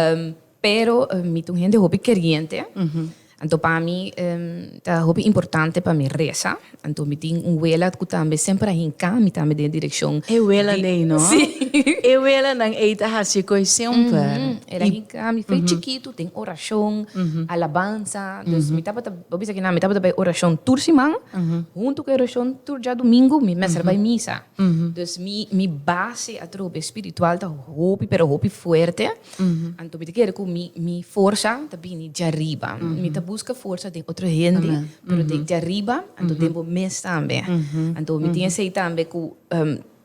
Um, pero um, mi ta un hende hopi keriente. Anto pa mi um, ta hopi importante pa mi resa. Anto mi tin un wela ku tambe semper a hinka mi tambe den direkshon. E wela di, nei, no? Si. E wela nan ei ta hasi koi semper. Mm -hmm. Era hinka mi fei mm -hmm. chikitu den orashon, mm -hmm. alabansa. Dus mm -hmm. mi tabata, obisa ki na, mi tabata bai orashon tur siman, mm -hmm. huntu ku orashon tur ja domingo, mi mester mm -hmm. bai misa. Dus mi mi base atrobe spiritual ta hopi pero hopi fuerte, anto mi ta kere ku mi mi forsa ta bini dja riba. Mi ta buska forsa den otro hende, pero den dja riba, anto den bo mes tambe. Anto mi tin esei tambe ku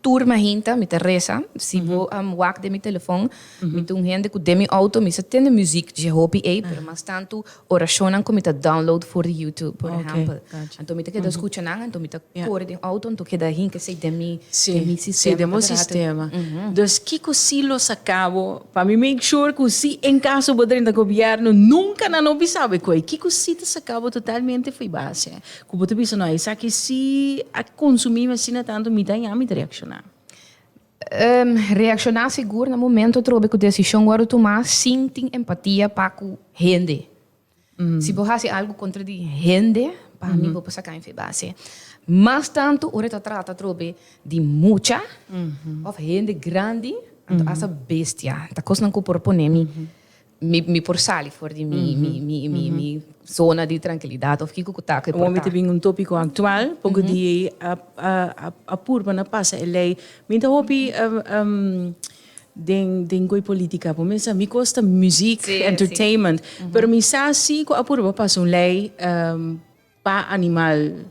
tur mahinta mi ta resa, si bo a wak den mi telefon, mi ta un hende ku den mi outo mi sa tende muzik dje hopi ei, pero mas tantu Orashonnan ku mi ta download for di YouTube, por ehèmpel. Anto mi ta keda skucha nan, anto mi ta kore den outo, anto keda hinka se'i den mi sistema. Den bo sistema. Dus kiko si lo sa kabo pa mi make sure ku si en kaso bo drenta gobièrnu nunka nan no bisa bo e koi? Kiko si ta sa kabo totalmente for di base ku bo ta bisa no, esaki si a konsumimi asina tantu mi ta haña mi ta reakshoná? Reakshoná sigur na momentu atrobe ku desishon wòrdu tumá sin tin empatia pa ku hende. Si bo hasi algu kontra di hende, pa mi bo por saká en febase. Mas tantu ora e ta trata atrobe di mucha òf hende grandi, anto asta bestia. Ta kosnan ku por pone mi Mi mi por sali for di mi mi mi mi mi zona di trankilidat of kiko ku ta ku e por ta. Awor mi ta bin un topiko aktual poko di ei a a a a purba na pasa e lei. Mi ta hopi den den goe politika por mesa mi kos ta muziek entertainment pero mi sa si ku a purba pasa un lei. Pa animal.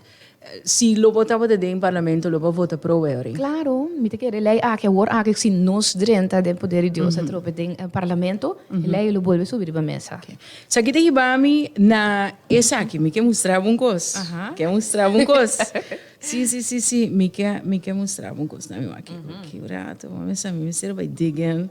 Si lo bo tabata den parlamento lo bo vota pro e orin? Claro, mi ta kere ley aki awor aki si nos drenta den poder di Dios atrobe den parlamento e ley lo bolbe subi riba mesa. Esaki ta hiba mi na esaki mi ke mustra bo un kos ke mustra bo un kos si si si si mi ke mi ke mustra bo un kos na mi wak kiko kiko rato bo a mester bay degen.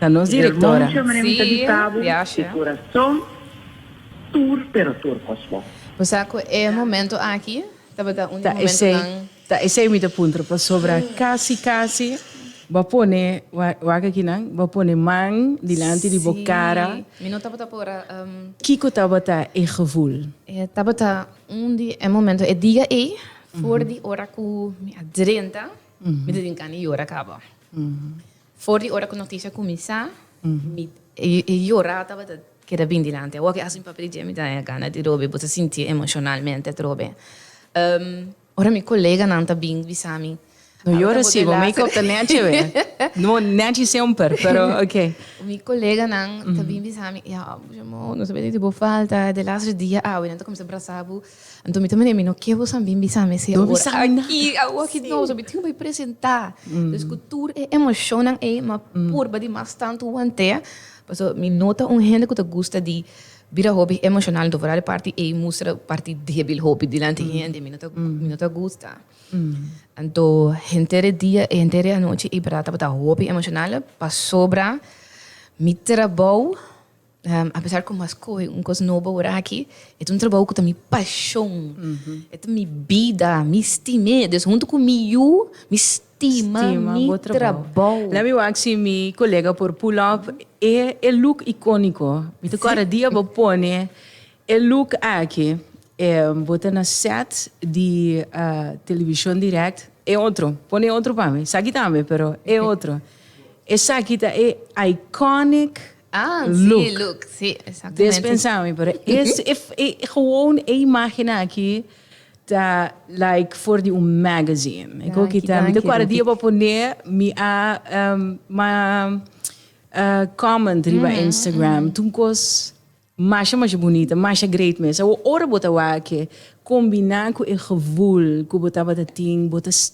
Na nos directora. Sí, viaje. Bo sa cu e momento aki tabata un di momentonan. Ta esey mi ta puntra pasobra casi casi bo a pone, wak aki nan, bo a pone man dilanti di bo cara. Sí, mi no tabata por a um. Kico tabata e gevoel? E tabata un di e momento, e diga ey, for di ora cu mi a drenta, mi ta tin cana y yora caba. For di ora ku noticia kuminsá, mi e yora tabata keda bin dilanti. Awo ke hasi un papia di dje mi ta haña gana di robi, bo ta sinti emocionalmente atrobe. Ora mi koleganan ta bin bisa mi, No yora si, bo make-up ta nechi awe. No, nechi semper, pero ok. Mi koleganan ta bin bisa mi, Ya, Boja Mou, nos a bini di bo falta, e lasere dia awe nan ta kuminsá brasa bo. Anto mi ta mane mi no ke bo sa bin bisa mi esei ora aki awo aki no so mi tin bai presenta dus ku tur e emoshonnan ei mi a purba di mas tantu wantea paso mi no ta un hende ku ta gusta di bira hopi emoshonal anto fora di parti ei mustra parti debil hopi dilanti hende mi no ta mi no ta gusta anto henter e dia e henter e anochi ei berdad tabata hopi emoshonal pasobra mi trabou. A pesar cu mas coge un cos nobo ora aki, e ta un trabajo cu ta mi pasion, e ta mi bida, mi stim'e. Dus hunto cu mi yu, mi stima mi trabajo. Let me wak si mi colega por pull up e e look iconico. Mi ta kor a dia bo pone e look aki, bo ta na set di Television Direct, e otro, pone e otro pa mi, esaki tambe pero e otro. Esaki ta e iconic. Ah, sí, look. look. Sí, Des exactamente. pensá mi, pero es e, e gewoon e imágennan aki ta like for di un magazine. E ko Danki, kita, mi ta danki, kuadra di Rudy. e por pon'é mi a em, ma eh, comment riba Instagram. T'un kos masha masha bunita, masha great mes. Awor ora bo ta wak e kombiná ku e gevoel ku bo tabata tin, bo ta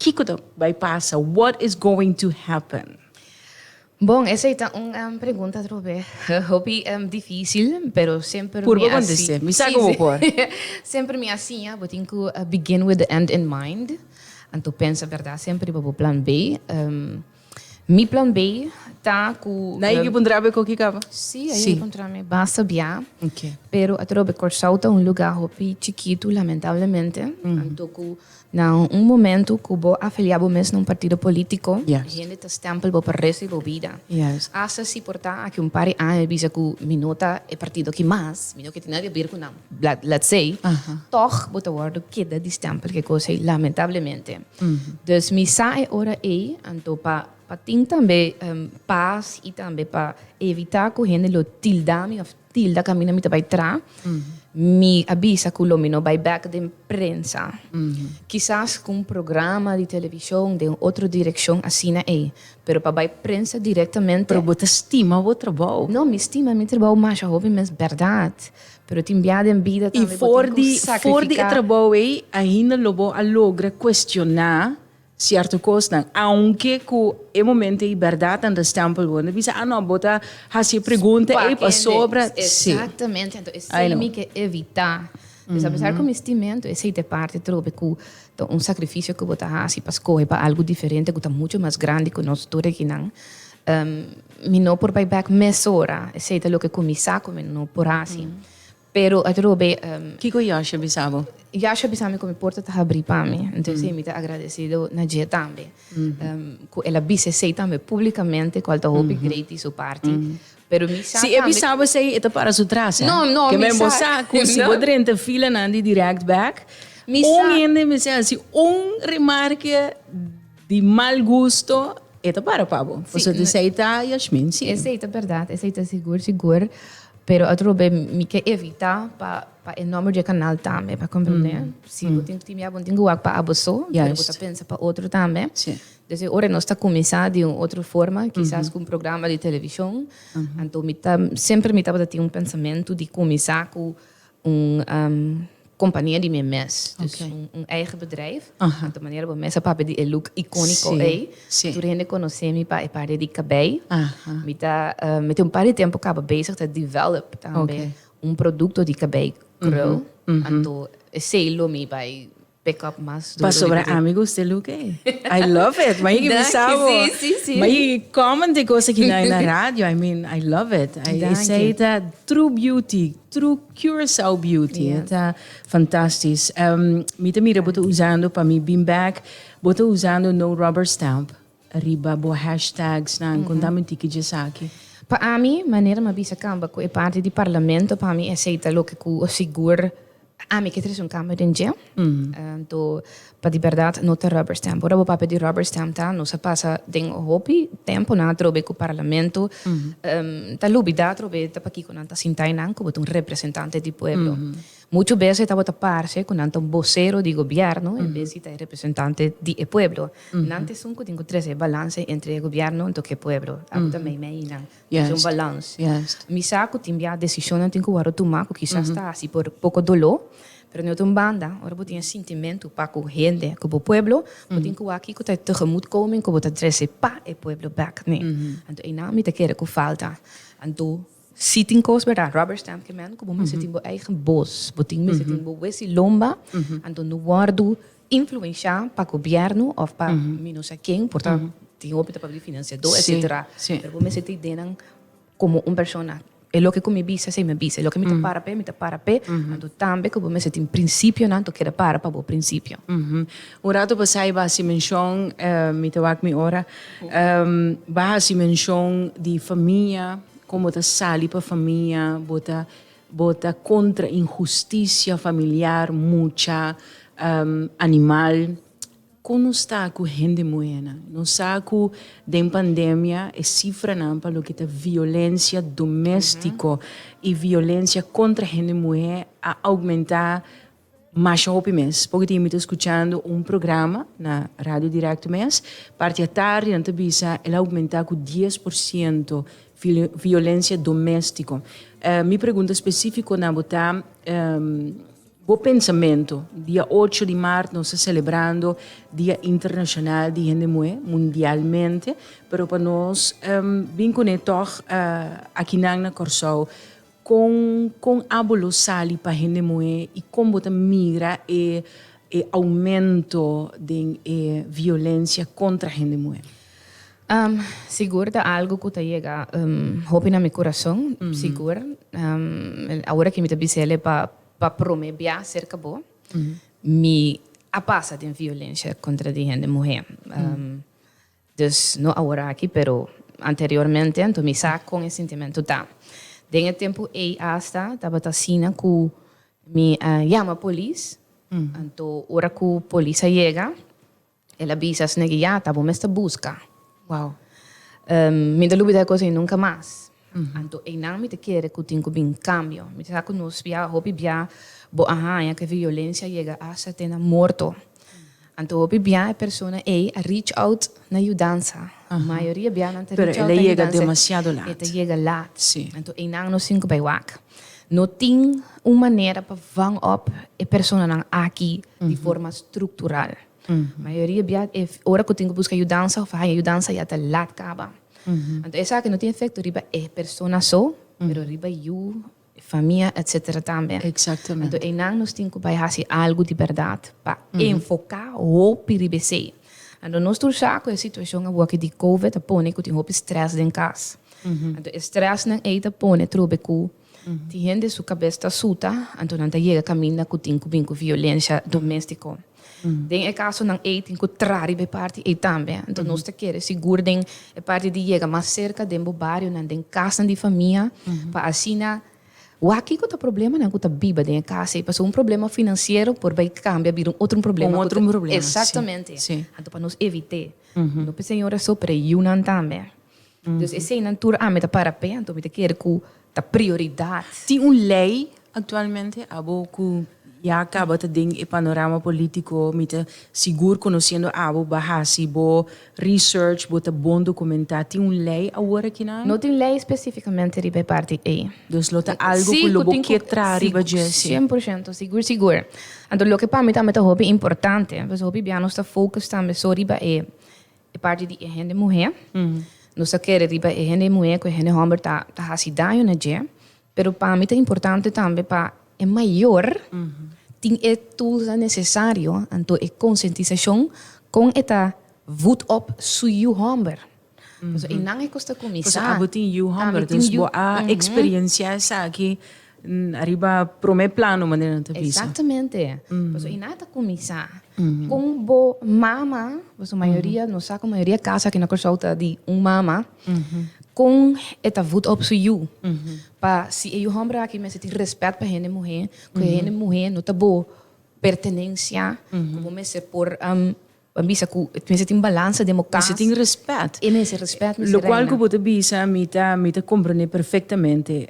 Kiko ta bai pasa? What is going to happen? Bon, esei ta un pregunta atrob'é hopi difícil, pero semper mi a siña. Mi sa ku bo por. Semper mi a siña bo tin ku begin with the end in mind. Anto pensa bèrdat semper riba bo plan B. Mi plan B ta ku. Na ekipo un trabe koki kaba? Sí, ahí sí. encontrame basta bia. Okay. Pero atrobe Kòrsou ta un lugar hopi chikitu lamentablemente. Mm. Anto ku na un momento ku bo afilia bo mes na un partido polítiko, yes. hende ta stempel bo pa resto di bo bida. Yes. Hasta si por ta aki un par di aña mi bisa ku mi no ta e partido ki mas, mi no ke tin nada ke ber ku nan. Let's say, tog bo ta wordo keda di stempel ke cos ey, lamentablemente. Dus mi sa e ora ey, anto pa pa tin tambe paz y tambe pa evita cu hende lo tilda mi of tilda caminda mi ta bay tra, mi a bisa cu lo mi no bay back den prensa. Kisas cu un programa di television den un otro direccion asina ey, pero pa bay prensa directamente. Pero bo ta stima bo trabao? No, mi stima mi trabao masha hopi mes berdad. Pero tin biaha den bida tambe bo tin ku sakrifiká. I for di e trabou ei ainda lo bo a logra kuestioná sierto kosnan, aunke ku e momento ei bèrdat ta restèmpel bo. Nan ta bisa, Anò, bo ta hasi e pregunta ei pasobra. Si. Exactamente, anto esei mi ke evitá. Pues apesar ku mi stimentu esei ta e parti trobe ku ta un sakrifisio ku bo ta hasi pa skohe pa algu diferente ku ta mucho mas grandi ku nos tur akinan, Mi no por bai bek mesora, esei ta loke ku mi sa ku mi no por hasi. Pero at Robé. Kiko Yahshua a bisa bo? Yahshua a bisa mi ku mi porta ta habrí pa mi. Enton esei mi ta agradesido na dje tambe. Ku el a bisa esei tambe públikamente, kual ta hopi grei di su parti. Pero mi sa tambe. Si e bisa bo esei, e ta para su tras, hé. Ke men bo sa ku si bo drenta filanan di dirèkt bèk, un hende mester hasi un remarke. Di mal gusto e ta para pa bo. Pasobra di esei ta Yashmin, si. Esei ta berdad, esei ta sigur sigur. Pero otro be mi ke evita pa pa e nomber di e kanal tambe, pa komprende. Si bo tin timia bo tin ke wak pa abo so, pero bo ta pensa pa otro tambe. Des e ora nos ta kuminsá di un otro forma, kisas ku un programa di televishon. Anto mi ta, semper mi tabata tin un pensamentu di kuminsá ku. Un compania di mi mes. Dus un eigen bedrijf. Di manera bo mes a papia di e look iconico ey. Tur hende conoce mi pa e paria di cabey. Mi ta, mi tin un par di tempo caba bezig ta develop tambe un producto di cabey krul. Anto esey lo mi bay. Pasobra ami gusta e look ei. I love it, ma yik bisa bo. Danki, si, si, si. Ma yik e comment di cos aki na na radio, I mean, I love it. I, esei Danki. ta true beauty, true Curaçao beauty. Ya. E ta fantastis. Em, mi ta mira bo ta usando, pa mi beanbag, bo ta usando no rubber stamp. Riba bo hashtagsnan con ta mintí ki dje esaki? Pa ami, manera m'a bisa kamba ku e parti di parlamento, pa mi esei ta loke ku sigur ami ke trese un kambio den dje. Anto, pa di bèrdat, no ta rubber stamp. Ora bo papia di rubber stamp ta nos a pasa den hopi tempu na atrobe ku parlamento ta lubidá atrobe ta pakiko nan ta sintá einan komo ta un representante di pueblo. Muchu bes e tabata parce ku nan ta un bosero di gobièrnu en bes di ta e representante di e pueblo. Nan ta esun ku tin ku trese e balanse entre e gobièrnu anto ku e pueblo. Awo ta meimei nan. Tin ser un balans. Mi sa ku tin bia desishonnan tin ku wòrdu tumá ku kisas ta hasi por poko doló, pero den otro un banda ora bo tin e sintimentu pa ku hende, ku bo pueblo, bo tin ku wak ku ta e tegemoetkoming ku bo ta trese pa e pueblo bèk, ne? Anto einan mi ta kere ku falta. Anto Si tin cos berda rubber stamp clement cu bo mester tin bo eigen bos, bo tin mester tin bo wes y lomba, anto no wordo influencia pa gobierno of pa mi no sa ken por ta tin hopi ta papia financiado etcetera pero bo mester ta idea nan como un persona e loke cu mi bisa esey mi a bisa e loke mi ta para p'e mi ta para p'e anto tambe cu bo mester tin principionan to keda para pa bo principio. Un rato pasá e bo a haci mencion mi ta wak mi ora bo a haci mencion di famia. Kon bo ta sali pa famia, bo ta bo ta kontra inhusticia familiar mucha um animal. Kon nos ta ku hende muhernan? Nos sa ku den pandemia e sifranan pa loke ta violencia domestico y violencia kontra hende muher a augmenta Masha hopi mes por tin mi ta escuchando un programa na radio directo mes parti a tardi nan ta bisa el a aumenta cu dies por ciento violencia domestico mi pregunta specifico na bo ta bo pensamento dia ocho di maart nos ta celebrando dia internacional di hende muhe mundialmente pero pa nos bin cu ne tog aki nan na Corsou Kon kon abo lo sali pa hende muhé i kon bo ta mira e e oumento den e violensia kontra hende muhé? Um, sigur ta algu ku ta yega um hopi na mi kurason, sigur. Um, awor aki mi ta bisa el'e pa pa promé bia serka bo, mi a pasa den violensia kontra di hende muhé. Um. Dus no awor aki, pero anteriormente, anto mi sa con e sintimentu ta. Den e tempu ey asta tabata asina cu mi a yama polis, anto ora cu polis a yega, el a bisa esnegi, ya ta bo mester busca. Wow. Mi no ta lubida e cos ey nunca mas. Anto einan mi ta kere ku tin ku bin kambio. Mi ta sa ku nos bia, hopi bia bo a haña ku e violensia a yega asta te na morto. Anto hopi bia e persona ei a reach out na yudansa. Mayoria bianan ta reach out na yudansa e ta yega lat. Anto einan nos tin ku bai wak. No tin un manera pa vang òp e personanan aki di forma struktural. Mayoria bia e ora ku tin ku buska yudansa òf haña yudansa ya ta lat kaba. Anto esaki no tin efekto riba e persona so, pero riba yu, famia etsetera tambe. Anto einan nos tin ku bai hasi algu di bèrdat pa enfoká hopi riba esei. Anto nos tur sa ku e situashon awoki di Covid a pone ku tin hopi strès den kas. Anto e strèsnan ei ta pone trobe ku. Tin hende su kabes ta suta, anto nan ta yega kaminda ku tin ku bin ku violensia doméstiko. Den e kasonan ei tin ku traha riba e parti ei tambe. Anto nos ta kere sigur den e parti di yega mas serka den bo barionan, den kasnan di famia, pa asina wak kiko ta problemanan ku ta biba den e kas ei. Pasobra un problema finansiero por bai kambia bira un otro un problema. Un otro un problema, si. Exactamente. Anto pa nos evit'é. No pa e señora so, pero e yunan tambe. Entonces eseinan tur ami ta para p'e, anto mi ta kere ku ta prioridad. Tin un lei aktualmente abo ku ya kaba ta den e panorama polítiko, mi ta sigur konosiendo abo bo a hasi bo research, bo ta bon dokumentá, tin un lei awor aki na. No tin lei espesífikamente riba e parti ei. Dus lo ta algu ku lo bo ke traha riba dje si. Sien por shento, sigur sigur. Anto loke pa mi tambe ta hopi importante, pasobra hopi bia nos ta focus tambe so riba e E parti di e hende muhé, nos ta kere riba e hende muhé ku e hende hòmber ta ta hasi daño na dje, pero pa mi ta importante tambe pa e mayor tin e tulsnan nesesario, anto e konsientisashon kon e ta vut òp su yu hòmber. Pasobra e nan e kosta kuminsá. Pasobra abo tin yu hòmber, dus bo a eksperiensiá esaki Ariba prome plano manera nan ta bisa. Exactamente. Paso y nan ta cuminsa con bo mama, paso mayoria, nos sa cu mayoria casa aki na Curaçao ta di un mama, con e ta voed op su yu. Pa si e yu homber aki mester tin respect pa hende muher, cu hende muher no ta bo pertenencia, cu bo mester por. Ban bisa cu e mester tin balansa den bo cas. Mester tin respet. E mester respet mester reina. Locual cu bo ta bisa mi ta mi ta comprende perfectamente.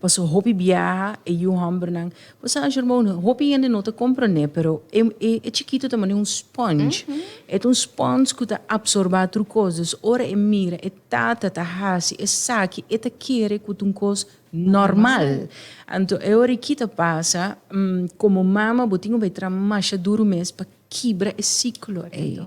Pasobra hopi biaha e yu hombernan, bo sa anjo hermano un hopi hende no ta comprende pero e e e chikito ta manera un sponge. E ta un sponge cu ta absorba tur cos dus ora e mira e tata ta haci esaki e ta kere cu ta un cos normal. Anto e ora e kita pasa como mama bo tin cu bay traha masha duro mes pa kibra e siklo ei.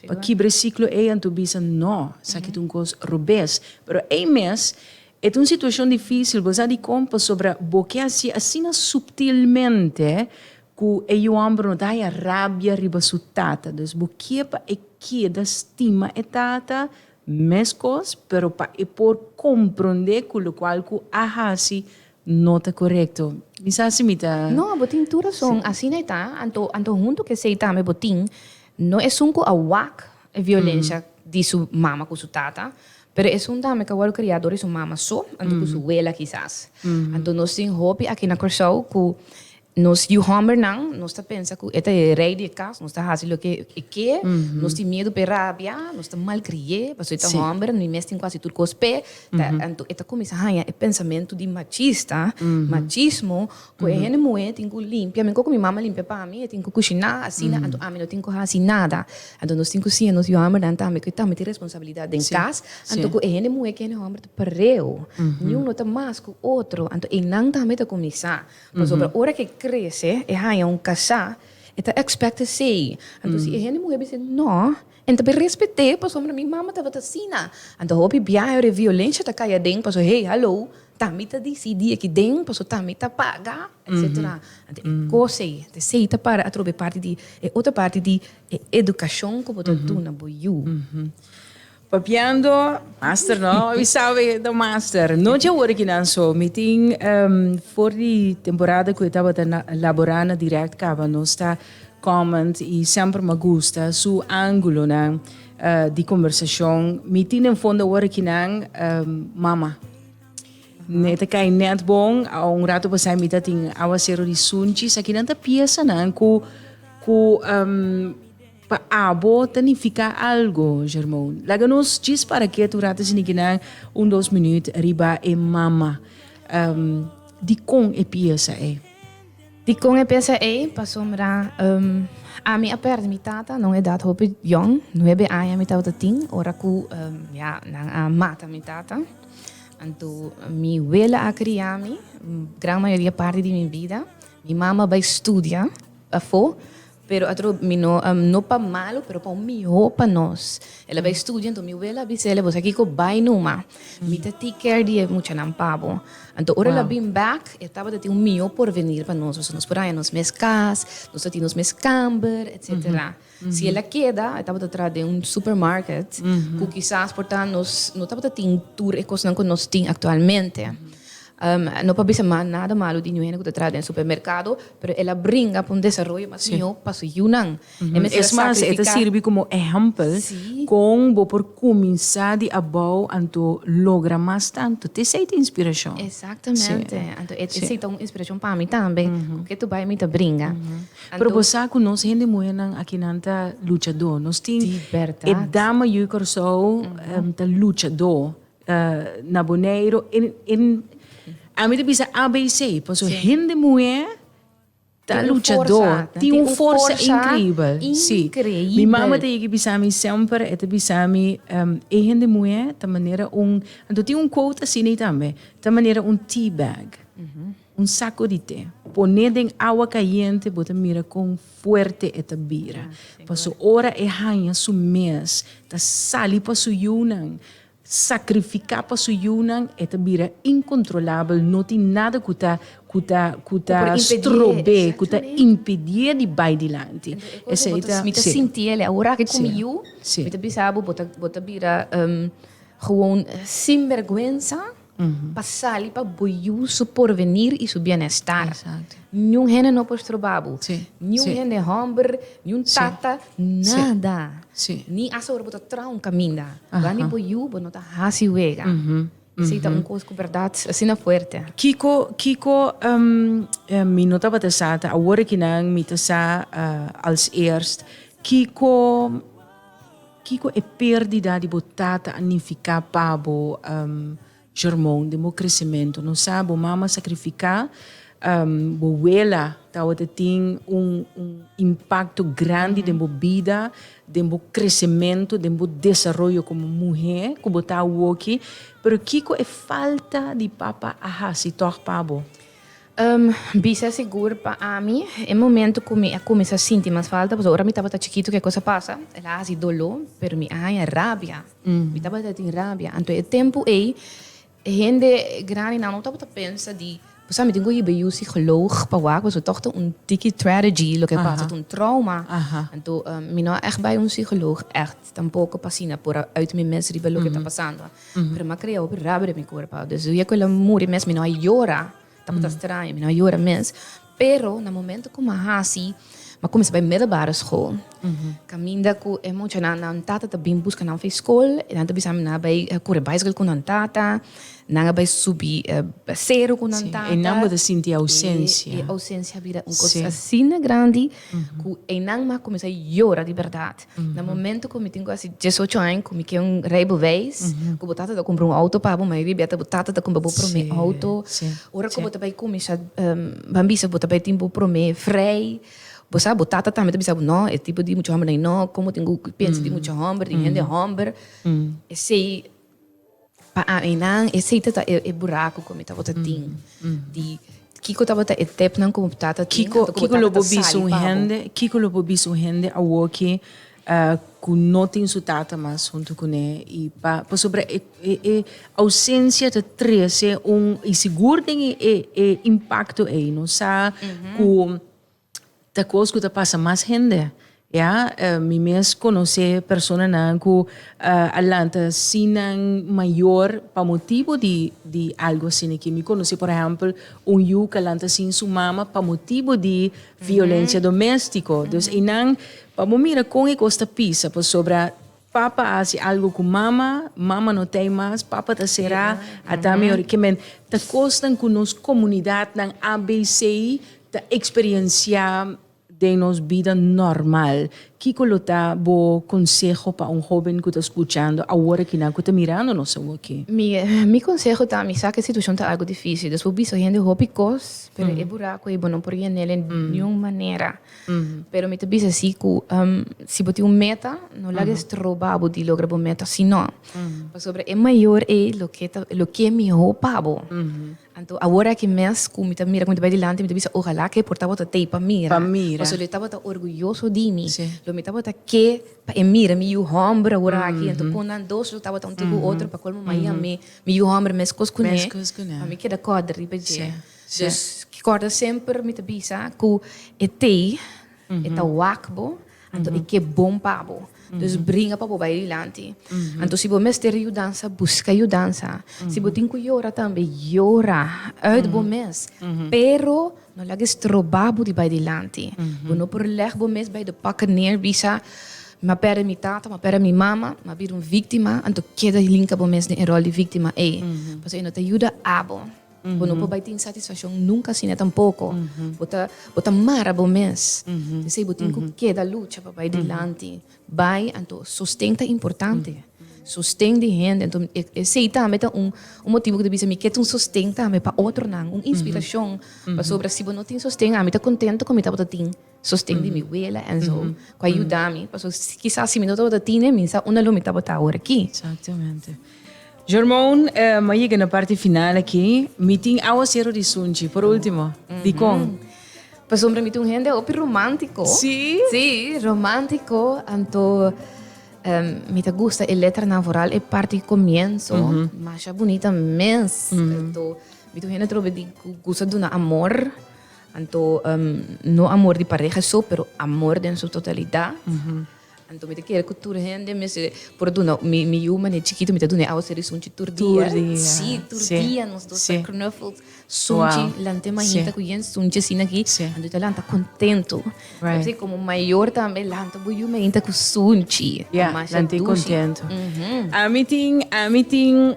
Pa kibra e siklo ei anto bisa no, esaki ta un kos robes. Pero ei mes e ta un situashon difísil, bo sa dikon? Pasobra bo ke hasi asina suptilmente ku e yu òmber no ta haya rabia riba su tata. Dus bo ke pa e keda stima e tata meskos, pero pa e por komprondé ku lokual ku a hasi No ta korekto. Mi sa si mi ta. No, bo tin tur rason. Asina e ta. Anto, anto huntu ku esei tambe bo tin, no esun ku a wak e violensha di su mama ku su tata, pero esun tambe ku a wòrdu kria dor di su mama so, anto ku su wela kisas. Anto nos tin hopi aki na Kòrsou ku Nos yu hòmbernan, nos ta pensa ku e ta e rei di e kas, nos ta hasi loke e ke, nos tin miedu p'e rabia, nos ta malkrié, pasobra e ta hòmber, mi mes tin ku hasi tur kos p'e, ta anto e ta kuminsá haña e pensamentu di machista, machismo, ku e hende muhé tin ku limpia, mi koku mi mama limpia pa mi, e tin ku kushiná asina, anto ami no tin ku hasi nada, anto nos tin ku siña nos yu hòmbernan tambe ku e tambe tin responsabilidat den kas, anto ku e hende muhé ku e hende hòmber ta pareu, niun no ta mas ku otro, anto einan tambe ta kuminsá. Pasobra ora ke krese, e haña un kasá, e ta expect esei. Anto si e hende muhé bis'é nò, en ta bin respet'é pasobra mi mama tabata asina. Anto hopi biaha ora e violensia ta kai aden paso hey, hallo, ta mi ta disidí aki den paso ta mi ta paga, etsetera. Anto e kos ei, anto esei ta para atrobe parti di e otro parti di e edukashon ku bo ta duna bo yu. Papiando master no mi sabe ta master no dje awor aki nan so mi tin for di temporada ku e tabata na labora na direct kaba nos ta comment i semper mi a gusta su angulonan di kombersashon mi tin den fondo awor aki nan mama mi ta kai net bon a un rato pasai mi ta tin aguasero di sunchi sa kinan ta piesa nan ku ku. Pa abo ta nifiká algu, Germone? Laga nos djis para kiet un ratu sini kinan un dos minüt riba e mama. Um, dikon e piesa ei? Dikon e piesa ei? Pasobra, um, ami a pèrdè mi tata na un edat hopi yòn. Nuebe aña mi tabata tin ora ku, um, ya, nan a mata mi tata. Anto, mi wela a kria mi gran mayoria parti di mi bida. Mi mama bai studia afó, Pero atro mi no, no pa malo, pero pa un mihó pa nos. El a bai studia, anto mi wela a bisa el, Bosa kiko, bai numa. Mi ta take care di e muchanan pa bo. Anto ora el a bin bèk, e tabata tin un mihó porvenir pa nos, pasobra nos por haña nos mes kas, nos ta tin nos mes kamber, etsetera. Si el a keda, e tabata tras den un supermarket, ku kisas por ta nos no tabata tin tur e kosnan ku nos tin aktualmente. No pa bisa mas nada malu di ñu hende ku ta traha den supermerkado, pero el a bringa pa un desaroyo mas mihó pa su yunan. E mester a sakrifiká. Es mas, e ta sirbi komo ehèmpel kon bo por kuminsá di abou anto logra mas tantu. Ta esei ta inspirashon. Exactamente. Anto esei ta un inspirashon pa mi tambe, ku ke tu bai mi ta bringa. Pero bo sa ku nos hende muhénan aki nan ta luchadó. Nos tin e dama yu Kòrsou ta luchadó. na Boneiru a mi ta bisa ABC paso hende muhé ta luchadó tin un forsa inkribel si mi mama ta yega bisa mi semper e ta bisa mi e hende muhé ta manera un anto tin un quote asina tambe ta manera un tea bag un sako di te pone den awa kayente bo ta mira kon fuerte e ta bira paso ora e haña su mes ta sali pa su yunan sacrifica pa su yunan e ta bira incontrolabel no tin nada cu ta cu ta cu ta strobe cu ta impedie di bay dilanti esey ta mi ta sinti ele ahora aki cu mi yu mi ta bisa bo bo ta bira gewoon sinberguensa. pa sali pa bo yu su porvenir i su bienestar. Niun hende no por stroba bo. Niun hende hòmber, niun tata, nada. Ni asta ora bo ta traha un kaminda, guandi bo yu bo no ta hasi wega. Esei ta un kos ku bèrdat asina fuerte. Kiko kiko mi no tabata sa, ta awor aki nan mi ta sa als eerst, kiko. Kiko e perdida di bo tata a nifiká pa bo? Shermon, den bo kresementu no sa bo mama sakrifiká bo wela tabata tin un impakto grandi den bo bida, den bo kresementu, den bo desaroyo komo muhé ku bo ta awoki, pero kiko e falta di papa a hasi tòg pa bo? Bisa sigur pa ami, e momento ku mi a kuminsá sinti mas falta, pasobra ora mi tabata chikitu ku e kos a pasa, el a hasi doló, pero mi a haña rabia. Mi tabata tin rabia. Anto e tempu ei, e hende grandinan no tabata pensa di, Pasá mi tin ku hiba yu sikològ pa wak, pasobra tòg ta un tiki tragedy loke a pasa, ta un trauma. Anto mi no a ègt bai un sikològ ègt. Tampoco pa asina por a uit mi mes riba loke ta pasando. Pero mi a crea hopi rabia den mi cuerpo. Dus dia cu el'a muri mes mi no a yora, tabata straño, mi no a yora mes. Pero na momento cu mi a haci, mi a cuminsa bai middelbare school. Caminda cu e muchanan, nan tata ta bin busca nan for e school, e nan ta bisa mi nan a bai cura bicycle cu nan tata, nan a bai subi seru cu nan tata. E nan bo ta sinti e ausencia. E ausencia a bira un cos asina grandi cu e nan mi a cuminsa yora di berdad. Na momento cu mi tin casi diesocho aña, cu mi kie un rijbewijs, cu bo tata ta cumpra un auto pa bo, mayoria di biaha bo tata ta cumpra bo prome auto. Ora cu bo ta bai cuminsha bambisa, bo ta bai tin bo prome vrij, bo sa bo tata tambe ta bisa bo, no, e tipo di mucha hombernan ei no, como tin cu pensa di mucha homber, di hende homber. Esey. Pa aminan e seite ta e buraco cu mi tabata tin di kico tabata e tepnan cu mi tata tin Kiko, anto cu mi kiko lo tata bo ta bisa sali un pa bo. hende, kiko lo bo bisa un hende awor ke ah, ku no tin su tata mas huntu kuné i pa pasobra e e e ausencia ta trese un i sigur den e e e impacto ei no sa ku ta cos cu ta pasa mas hende ya mi mes conoce personanan cu a lanta si nan mayor pa motibo di di algo asiniki mi conoce por ehempel un yu cu a lanta sin su mama pa motibo di violencia domestico dus enan pa bo mira con e cos ta pisa pasobra Papa a hasi algo ku mama, mama no ta ei mas, papa ta será, a ta mi ora. Kimen ta kosnan ku nos komunidatnan abc ta eksperienciá den nos bida normal? Kiko lo ta bo konseho pa un hóben ku ta skuchando awor aki nan ku ta mirando nos awoki? Mi mi konseho ta mi sa ku e situashon ta algo difísil, dus bo bisa hende hopi kos, pero e buraku ei bo no por yen'é den niun manera. Pero mi ta bisa si ku si bo tin un meta, no laga estroba bo di logra bo meta sino pasobra e mayor ei loke ta loke mihó pa bo. Anto awor aki mes ku mi ta mira ku mi ta bai dilanti mi ta bisa ohalá ke por tabata t'ei pa mira. Pa mira. Paso lo tabata orguyoso di mi. Si. Lo mi tabata ke pa e mira mi yu hòmber awor aki anto kon nan dos lo tabata un tin ku otro pa kolmo maña mi yu hòmber meskos kuné. Meskos kuné. Mi keda kòrda riba dje. Si. Sus, ki kòrda semper mi ta bisa ku e tei e ta wak bo, anto e ke bon pa bo. Dus bringa pa bo bai dilanti. Anto si bo mester yudansa, buska yudansa. Si bo tin ku yora tambe, yora uit bo mes, pero no laga e stroba bo di bai dilanti. Bo no por lèg bo mes bai de pòkè neer, bisa, Mi a pèrdè mi tata, mi a pèrdè mi mama, mi a bira un víktima, anto keda hinka bo mes den e ròl di víktima ei, pasobra e no ta yuda abo. Bo no por bai tin satisfaccion nunca asina tampoco. Bo ta, bo ta mara bo mes. P'esei bo tin cu keda lucha pa bai dilanti. Bai, anto sosten ta importante. Sosten di hende. Anto e, esei tambe ta un, un motibu cu ta bisa mi ke ta un sosten tambe pa otronan, un inspiracion. Pasobra si bo no tin sosten, ami ta contento cu mi tabata tin. sosten di mi wela en zo cu a yuda mi paso kisas si mi no tabata tine mi sa unda lo mi tabata awor aki. Exactamente. Germon, mi a yega na parti final aki. Mi tin aguacero di sunchi, por ultimo. Dicon? Pasobra mi ta un hende hopi romantico. Si? Si, romantico. Anto um, mi ta gusta e letranan, vooral e parti di comienzo. Masha bunita mes. Anto, mi ta un hende trobe di cu gusta duna amor. Anto no amor di pareha so, pero amor den su totalitá. Anto mi ta kere ku tur hende mester por duna, mi mi yu mane chikito mi ta duna e awa seri sunchi tur dia. Tur dia. Sí, tur dia nos dos ta knuffels sunchi lant'e mahita ku yen sunchi asina aki anto i ta lanta kontentu. Right. Komo mayor tambe lanta bo yu mahita ku sunchi. Ya, lanta i kontentu. Ami tin, ami tin.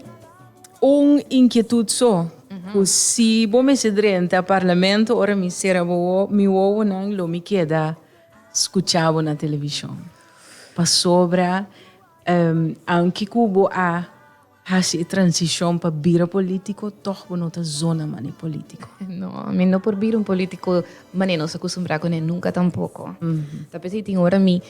Un inkietud so ku si bo mester drenta parlamento ora mi sera bo mi wowonan lo mi keda skucha bo na televishon. Pasobra aunke ku bo a hasi e transishon pa bira polítiko tòg bo no ta zona manera polítiko. No, mi no por bira un polítiko manera nos akustumbrá kuné nunka tampoko. Ta p'esei tin ora mi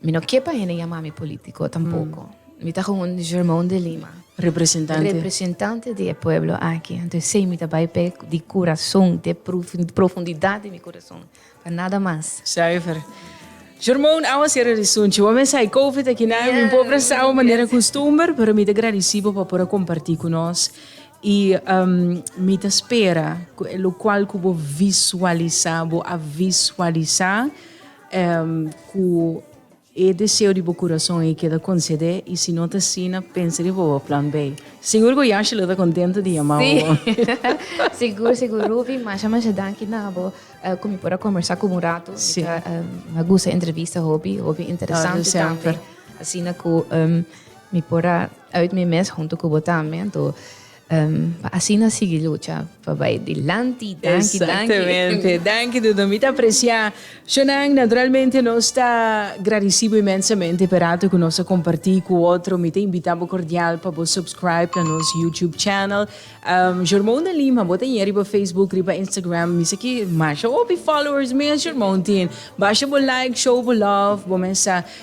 Mi no ke pa hende yama mi politico tampoco. Mi ta gewoon un Germon de Lima. Representante. Representante di e pueblo aki. Anto esey mi ta bay p'e di corazon, di profundidad di mi corazon. Pa nada mas. Zuiver. Germon, awa sera di sunchi. Bo mester hay covid aki na mi por presta bo manera costumber, pero mi ta gradeci bo pa por a comparti cu nos. Y mi ta spera cu e locual cu bo visualisa, bo a visualisa. Ku e deseo di bo kurason ei keda konsedé, i si no ta asina, pensa riba bo plan B. Sigur ku Yashi lo ta kontento di yama bo. Sí, sigur, sigur. Ruvi, masha, masha danki na abo ku mi por a kombersá ku bo un ratu. Sí. Mi ta a gusta e entrevista hopi, hopi interesante tambe. Ora semper. Asina ku mi por a uit mi mes huntu ku bo tambe. Anto. Pa asina sigui lucha pa bai dilanti. Danki, danki. Exactamente. Danki Dodo. Mi ta aprecia shonan. Naturalmente nos ta gradeci bo inmensamente p'e rato cu nos a comparti cu otro. Mi ta invita bo cordial pa bo subscribe na nos YouTube channel. Jormon de Lima, bo ta yen riba Facebook, riba Instagram. Mi sa ki masha hopi followers mi a Jormon tin. Basha bo like, show bo love, bo mester.